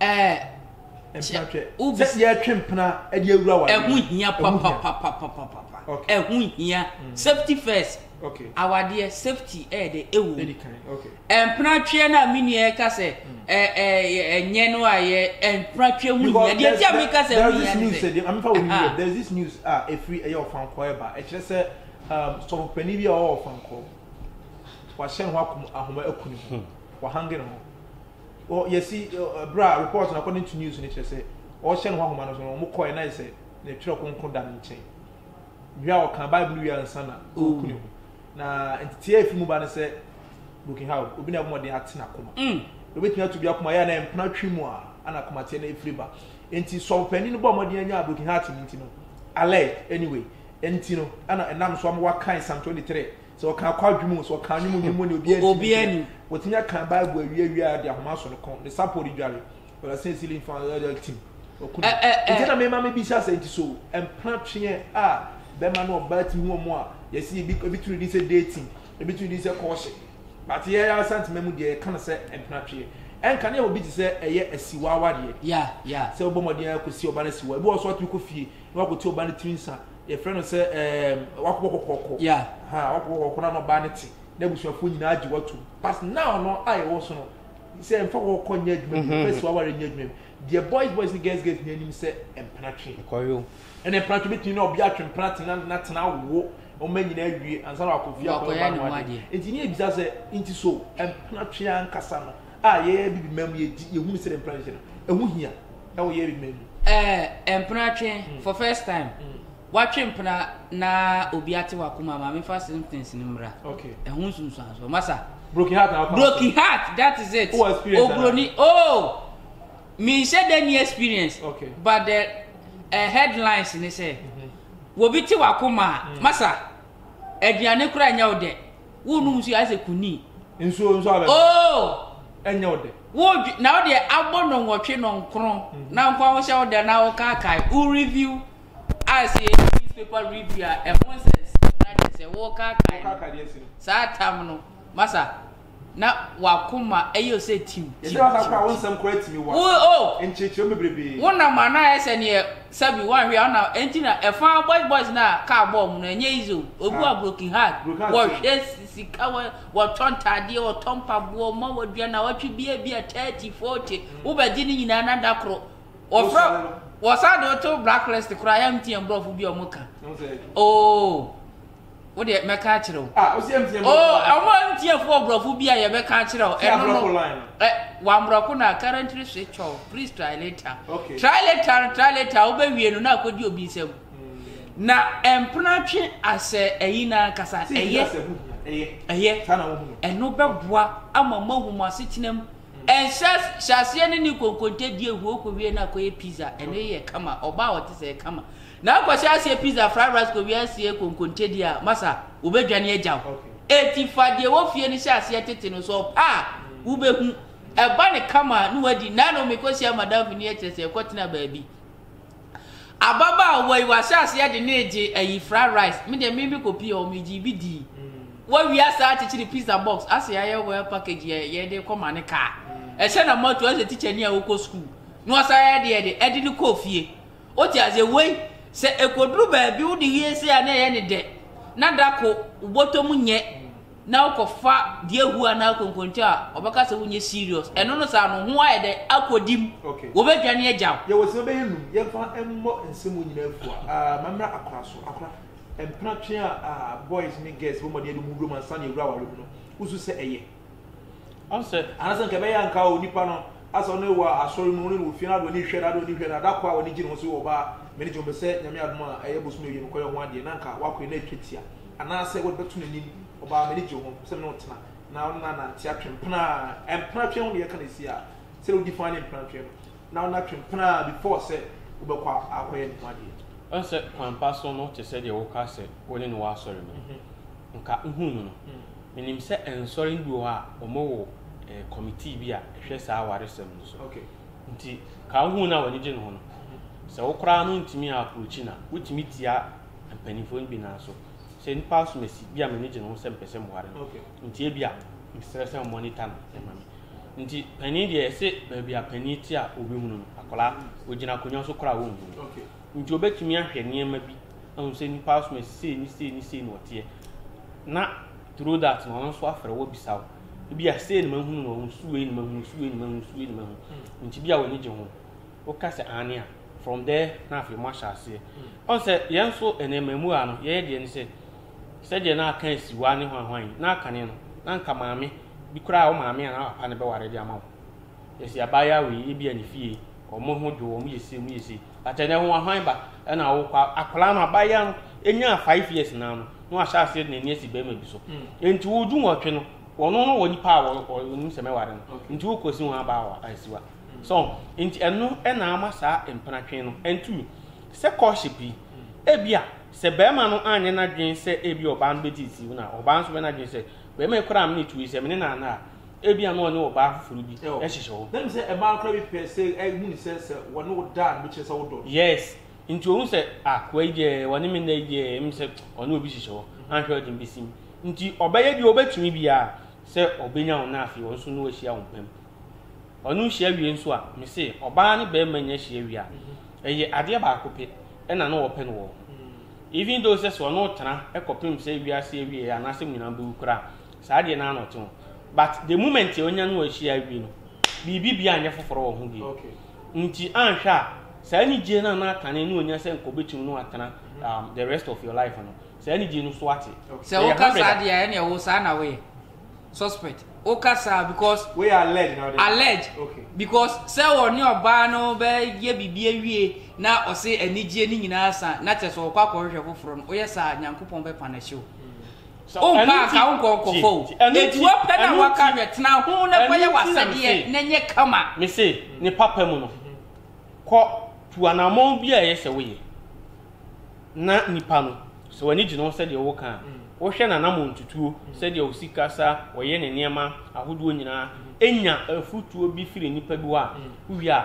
Ɛɛ. Mpena twɛ. Sɛ yɛtwe mpena de awura wɔ adeɛ. Ɛho hia papapapapapa. Okay. Ɛho hia. Mm. Safety first. Okay. Awadeɛ safety ɛyɛ de ɛwɔ. Ɛdi kan. Okay. Ɛmpena twɛ na mi nua ɛka sɛ mm. ɛ ɛ ɛnyɛ no a yɛ ɛmpena twɛ ho hia. Deɛ ti a mi ka sɛ ho hia ne sɛ. Ah. There is this news a ah, efiri ɛyɛ ɔfankɔ ɛba ɛkyerɛ sɛ um, sɔfopani bi a ɔwɔ ɔfankɔ wahyɛ ne ho ahoma akuni ho hmm. wahange ne ho. Ɔ yɛsi ɔ ɛberɛ a report no according to news no kyerɛ sɛ ɔrehyɛ ne ho ahoma no so no wɔkɔɛ na ayɛsɛ ne twerɛ kronkron da ne nkyɛn wie a ɔkaa bible wie ansa na ɔreku ne ho na nteteɛ a ɛfiri mu ba no sɛ broken heart obi na ɛbɔ mmɔden ate n'akoma mm. obɛtumi ato bi akoma yɛ a na ɛmpena twi mu a ana akomateɛ no ɛfiri ba nti sɔmpanin no bɔ mmɔden anya broken heart no nti no alert anyway nti no ana ɛnam so ama wakae psalm 23 Sɛ ɔka akɔ adwuma o, sɛ ɔka anwom nnwom o, ne obiara ntumi Obiara nkyerɛ. nim. Watumi aka Bible awie awie a, ɔde ahoma aso ne kɔn, ne sapɔ redware. Ɔda sɛ sili mfa ɛɛ tim. Waku Ɛ no. ɛ ɛ. Enti na mema mebisa sɛ, enti so mpena tweɛ a bɛrima ne ɔbaa tumi hu wɔn a, yɛse ebi ebi to ne din sɛ dating, ebi to ne din sɛ kɔɔhye. But yɛn ara Asantema mu deɛ, yɛka no sɛ mpena tweɛ. Ɛnka ne yɛ obi te sɛ ɛyɛ asiwa awareɛ. Yeah, yeah. Sɛ wobɔ mmɔden ara kɔsi ɔbaa no asiwa. Ebi wɔ hɔ nso a, watumi kɔ fie na wakɔte ɔbaa no tiri nsa Yɛfrɛ no sɛ ɛɛm wakɔ kɔkɔkɔ. Yeah. Ha wakɔ kɔkɔkɔ na n'ɔbaa no te n'abusuafoɔ nyinaa agye watum. But now no a yɛwɔ so no sɛ mfa kɔkɔkɔ nyɛ adwuma bi mfa si waware nyɛ adwuma bi deɛ boys boys ne girls girls nyinaa nim sɛ mpenatwe. Ɛkɔyo. Ɛna mpenatwe bɛtumi ne ɔbea atwe mpenatwe na na tena awo ɔma nyinaa awie ansa na wakɔ fie akɔyɛ ɔbaa no adeɛ. Nti ne yɛbisa sɛ nti so mpenatwe ankasa no a yɛyɛ bibi man mu yɛ di yɛ hunu sɛ dɛ mpena hyehyɛ no ɛho hia ɛwɔ yɛyɛ bibi man mu. Ɛɛ mpena twe mm. for first time mm. watwe mpena na obi ate wakoma maame fa symptoms no mmra okay. ɛho nsunsuansoɔ masa broken heart na broken heart that is it oh experience obroni oh menhyɛ dɛ ni experience okay. but the uh, headlines ne sɛ mm -hmm. wɔbi te wakoma mm. masa aduane koraa nyɛ wo dɛ Wo nom nsu ayɛ sɛ kunii. Nsuo nso abɛ. Oo. Ɛnyɛ wo dɛ. Wo dwe na wo deɛ abɔ nɔnwɔtwe nɔnkron na nko a wo hyɛ wo dɛ na wo kaakae wo review a sɛ yɛ newspaper review a ɛho nsɛnsɛm na kyɛ sɛ wo kaakae no saa tam no masa na wakoma ɛyɛ o sɛ tim tim tim tim wo o nkyerɛkyerɛ mu bebrebe wo nam anaa ɛsɛ neɛ Sɛbi wanhwɛ a ɔna ɛnti na ɛfa boys boys no a car bɔɔ ɔmo no ɛnyɛ easy o obi wɔ a broken heart wɔhwɛ sika wɔtɔ ntaadeɛ wɔtɔ mpaboa ɔmo ma wɔdua nawɔtwe bi a ebia thirty forty wobɛgye ne nyinaa na da koro wɔfrɛ wɔsan de woto black list koraa yɛnte yɛn brɔfo bi a ɔmo ka oo. wo deɛ mɛka akyerɛ wo ah ɔsi ɛmtia mu oh ɔmo ɛmtia fo ɔbrɔfo bi a yɛbɛka akyerɛ wo ɛno no ɛ wambrɔko na currently switch off please try later okay. try later try later wobɛwie no na akɔdi obi nsɛm hmm. na ɛmpena twe asɛ ɛyi na ankasa ɛyɛ ɛyɛ ɛno bɛboa ama mo ahu mo asetena mu ɛnhyɛ hmm. hyɛaseɛ ne ne konkonte die huo kɔwie no akɔyɛ pizza ɛno yɛ kama ɔbaa ɔte sɛ kama Na wokɔhyɛ aseɛ pizza fried rice kɔwie aseɛ konkonte deɛ a, masa, wɔbɛdwane agya wo. Enti fa deɛ ɛwɔ fie no hyɛ aseɛ tete no so, ɔpɛ a, wobɛhu. Ɛba no kama a, na woadi. Nnɛ no, mekɔhyia madamfo no yi, ɛkyerɛ sɛ yɛkɔtena baabi. Ababaawa yi, wahyɛ aseɛ de ne regye ayi fried rice. Me deɛ, meme kɔpii hɔ, megyee bi dii. Wawie asan akyekyere pizza box, asɛ ayɛ well package yɛ, yɛde rekɔma no kaa. Ɛhyɛ no ma to, ayɛ sɛ tikyani a ɔkɔ sukuu. Na wasan ayɛ deɛ de, ɛde no kɔɔ fie. Wote aseɛ? Wei, sɛ ɛkɔduru baabi wode wie sei a na ɛyɛ no dɛ, na da ko wo bɔtɔ mu nyɛ na wokɔfa diahu anaa konkonte a, wɔbɛka sɛ wonyɛ serious. Ɛno no saa no, wo ho ayɛ dɛ, akɔdi mu, wɔbɛdwane agya wo. Yɛwɔ sima bɛyɛ num, yɛmfa mmɔ nsɛm mu nyinaa fua. Aah, mammra akora so, akora. Mpenatwe a, aah, boys ne girls bɔ mmɔden de wɔn ho wura mu ansa na yɛawura aware mu no, wosu sɛ ɛyɛ. Ɔsɛ. Anasɛ nka ɛbɛyɛ a nka onipa no asɛ ɔno wɔ asɔre mu, ɔno ne wɔ fie, n'adeɛ ɔne hwɛ, n'adeɛ ɔne hwɛ, na dakɔ a ɔne gye ne ho so wɔ ɔbaa mene gye ho bɛ sɛ Nyame adom a ɛyɛ bosome ɔyɛ no kɔyɛ ɔho adeɛ na nka wakɔ yɛ no atwa tia anaasɛ wode bɛto n'anim ɔbaa mene gye ho sɛ mene wo tena na ɔne no anante atwe mpena a mpena atwe ho ne yɛka no ɛsi a sɛde wodi faa ne mpena atwe no na ɔne no atwe mpena a before sɛ wobɛkɔ akɔyɛ ne ho adeɛ. Ɔsɛ kwan pa so no te sɛ deɛ woka sɛ wone no wɔ asɔre mu no nka wohuu no no Menim sɛ nsɔre no bi wɔ hɔ a, wɔwɔ kɔmitii bi a ɛhwɛ saa awaresɛm no so. Nti, ka wo ho na w'ani gye ne ho no. Sɛ wo koraa no ntumi approachi no a, wotumi tia mpanimfoɔ no bi nan so. Sɛ nnipa asomasi bi a m'ani gye ne ho sɛ mepɛ sɛ meware no, nti ebia mesrɛ sɛ wɔmonitor no ma me. Nti panin deɛ yɛse baabi a panin te a wɔbɛhunu no, akwadaa, ɔgyina akonnwa so koraa a wɔnhu no. Nti wɔbɛtumi ahwɛ nneɛma bi. ahu sɛ nnipa asom asi sei ne sei ne sei na ɔteɛ na through that na ɔno nso afrɛ wo abisa wo ebi a sei na mahunu na ɔhu so wei na mahunu so wei na mahunu so wei na mahunu hmm. nti bi a w'ani gye ho woka sɛ aane a from there na afei mo ahyɛ aseɛ hmm. ɔn sɛ yɛn nso nneɛma mu a no yɛyɛ deɛ ne sɛ sɛdeɛ na aka asi wa ne hwanhwan yi na akane no na nka maame bi koraa wo maame a na papa ne bɛware de ama wo yɛsi abaayewa wei ebi a ne fie wɔn ho dwo wɔn yɛ se wɔn yɛ se But ɛnɛ ho ahwan ba ɛna awokɔ a akwadaa no abayewa no nyaa five years naa no na wahyɛ aseɛ de n'ani asi bɛrima bi so nti wo dunwɔtwe no wɔno no wɔ nipa a wɔnim sɛ mɛware no nti wokɔsi ho aba a asiwa so nti ɛno ɛna ama saa mpenatwe no ɛntumi sɛ courtship yi ebi a sɛ bɛrima no anyɛ n'adwene sɛ ebi ɔbaa no bɛtiti na ɔbaa nso bɛ n'adwene sɛ bɛrima yi koraa mene tu yi sɛ mene naana a Ebia na ɔne ɔbaa foforo bi hyehyɛ hɔ. Na nim sɛ mmaa koraa bi pɛ sɛ ehu ne sɛ sɛ wɔne wo da no kyerɛ sɛ wodɔ no. Yes, nti ohu sɛ ah koa yi deɛ ɔne me nna yi deɛ ɛm sɛ ɔne obi hyehyɛ hɔ anhwɛ ɔde me bɛsim. Nti ɔbɛyɛ deɛ ɔbɛtumi biara sɛ ɔbɛnya wo na afei ɔno nso ne wahyia wo mpam. Ɔno hyia wie nso a, me se ɔbaa ne barima nya hyia wie a, ɛyɛ adeɛ baako pɛ ɛna na wɔpɛ no wɔ ho. Even though sɛ sɛ ɔne wo tena ɛkɔpem sɛ wiase awieɛ anaasɛ mo nyinaa bɛwu koraa a, Saa deɛ naa na ɔte ho but the moment a ɔnya ne wɔ ahyia wie no biribi biaa nyɛ foforɔ wɔ ho bio nti anhwɛ a saa anigyie no a na kane no ɔnya sɛ nka ɔbɛtumi ne watena um, the rest of your life no saa anigyie no so ate. Sɛ wo ka saa deɛ a ɛneɛ wo saa na woyɛ suspect wo ka saa because woyɛ alleged na ɔde alleged okay. because sɛ wɔ ne ɔbaa no bɛyɛ biribi awie na ɔse anigyie no nyinaa sa na kyɛ sɛ ɔkɔ akɔhwehwɛ foforɔ no woyɛ saa nyankopɔn bɛpa no hyew. Wompa anka wo nkɔnkɔfɔ o. Enti wopɛ na woaka hwɛ, tena ho na kɔyɛ w'asɛdeɛ na nyɛ kama. Mese, ne papa mu no, kɔ, tu anammɔn biara a ɛyɛ sɛ woyɛ, na nnipa no, sɛ w'ani gye ne ho sɛdeɛ woka a, wohwɛ n'anammɔntutuo, sɛdeɛ ɔsi kasa, ɔyɛ ne nneɛma ahodoɔ nyinaa, nya afotuo bi firi nnipa bi hɔ a, wowie a,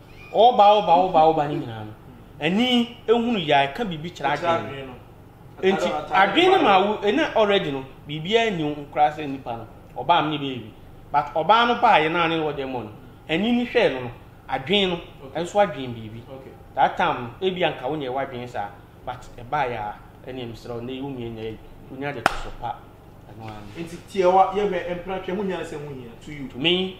Ɔɔba ɔɔba ɔɔba ɔɔba no nyinaa no, ani hunu yɛ a ɛka biribi kyerɛ adwene no. Enti adwene no ma wo ɛna already no biribiara nni wo ho koraa sɛ nipa no ɔbaa me ne bɛyɛ bi. But ɔbaa no baeɛ no a ne ɔdɛ mmɔ no, ani no hwɛɛ no no, adwene no nso adwene biribi. That time no ebia nka wo nyɛ w'adwene saa but ɛbaeɛ a ɛneɛ mesrɛ wo nnɛ yi wo mmie nnɛ yi wonya deɛ ɛtɔ so pa. Ɛno ara ne. Enti tiawa, yɛhwɛ, mpena, twɛ, ho hia ne sɛ ho hia to you. To me.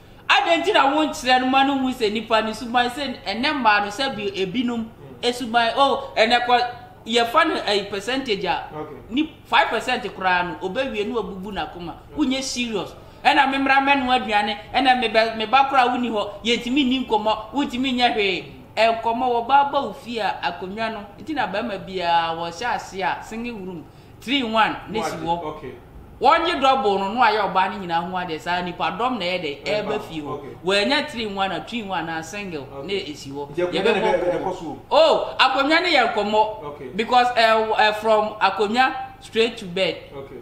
Adɛn nti na wonkyerɛ no ma no nhu sɛ nnipa no suban sɛ ɛnɛ mmaa no sɛ bi ebinom suban oh ɛnɛ kɔ yɛfa no ɛyi percentage a ni five percent koraa no obewie no abubu n'akoma wonyɛ serious ɛna mmemmra mɛno aduane ɛna mebɛ meba koraa wonni hɔ yɛntumi nni nkɔmmɔ wontumi nyɛ hwee nkɔmmɔ wɔ baaba ofie a akonnwa no nti na bɛrima biara wɔhyɛ ase a single room Three in one ne si hɔ. Wɔgye double no na wayɛ ɔbaa no nyinaa ho adeɛ saa nipa dɔm na ɛyɛ dɛ ɛreba fie hɔ. Wɔanya three in one a two in one anaa single na esi hɔ. Yɛbɛbɔ nkɔmmɔ. Oh akonnwa ne yɛ nkɔmmɔ because eh, eh, from akonnwa straight to bed.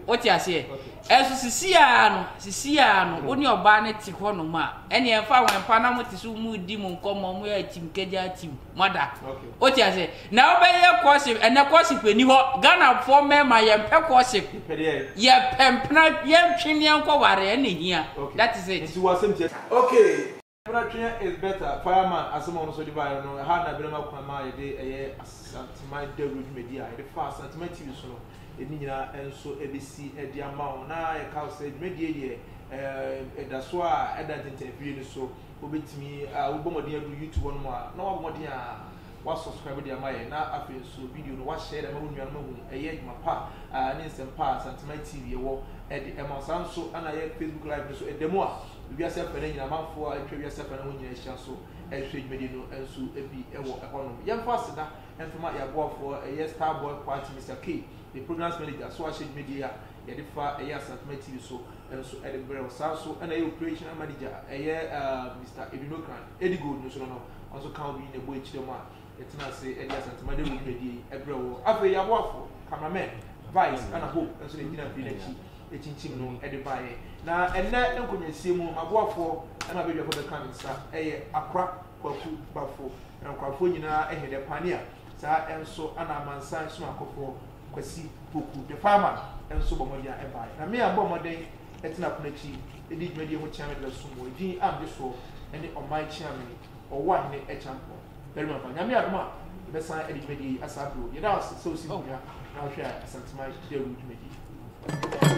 Wote aseɛ? Ɛso sisi ara no sisi ara no wo ne ɔbaa no te hɔ nom a ɛne ɛmfa wɔn mpa na mo te so mo di mo nkɔmmɔ mo yɛ atim kagya atim. mother o ti ase na wobɛyɛ courtship ɛnɛ courtship ɛni hɔ ghanafoɔ mmarima yɛmpɛ courtship yɛpɛ mpena yɛntwe ne yɛnkɔ ware ɛna ɛhia that is it okay mpena twe is better fireman asɛm a ɔno nso de baeɛ no ɛha na ɛbɛnam akwan ma yɛde ɛyɛ asanteman dawuro dwumadi a yɛde fa asanteman tv so no ɛni nyinaa nso ɛbɛsi ɛde ama wo na yɛka sɛ dwumadie deɛ ɛda so a ɛda ntentɛn fie no so Wobɛtumi a wobɔ mmɔden aduru YouTube hɔ nom a na woabɔ mmɔden a wa subscribe de ama yɛn na afei nso video no wa share de ama wo nuanom ahu ɛyɛ adwuma pa a ne nsɛm pa a Santeman TV ɛwɔ ɛde ɛma wo saa nso ana yɛ Facebook live no so ɛda mu a wiase afɛ no nyina amanfoɔ a atwa wiase afɛ no ho nyina ahyia nso ɛhwɛ dwumadi no nso bi ɛwɔ ɛhɔ nom yɛmfa aseda ɛmfama yɛ aboafoɔ ɛyɛ Starboy Kwati Mr. K the programs manager so ahyɛ dwumadi a yɛde fa ɛyɛ Asantuma TV so nso de brɛ wo. Saa nso na ɛyɛ operational manager a ɛyɛ Mister Edunokran, Eddie Gold no nso no, ɔno nso ka wo bi na ɛbɔ akyire mu a yɛtena ase de Asantuma Dawuro dwumadie yi brɛ wo. Afei yɛn aboafo, cameramen, Vice ɛna Hope nso na ɛgyina mfiri no akyi kyinkyim no de baeɛ. Na ɛnnɛ nkonnwasie mu m'aboafoɔ ɛna abadwafoɔ bɛka me nsa ɛyɛ Akora Kwaku Bafo, na nkorafoɔ nyinaa ɛhe dɛ, Pania, saa nso na Amansan Somakɔfoɔ, Kwasi Poku, The Farmer, nso bɔ mmɔden a ɛbae. Na me a mebɔɔ mmɔden tena pono akyi dii dwumadie ho kyeame de bɛsom mu. Edin a megye soɔ ne Ɔman Kyeame, Ɔwoahene Kyampɔn barima ba. Nyame adom a, yɛbɛsan adi dwumadie yi asa bio. Yɛda wo ase sɛ wosi nkonnwa na wohwɛ a Asanteman Dawuro dwumadie.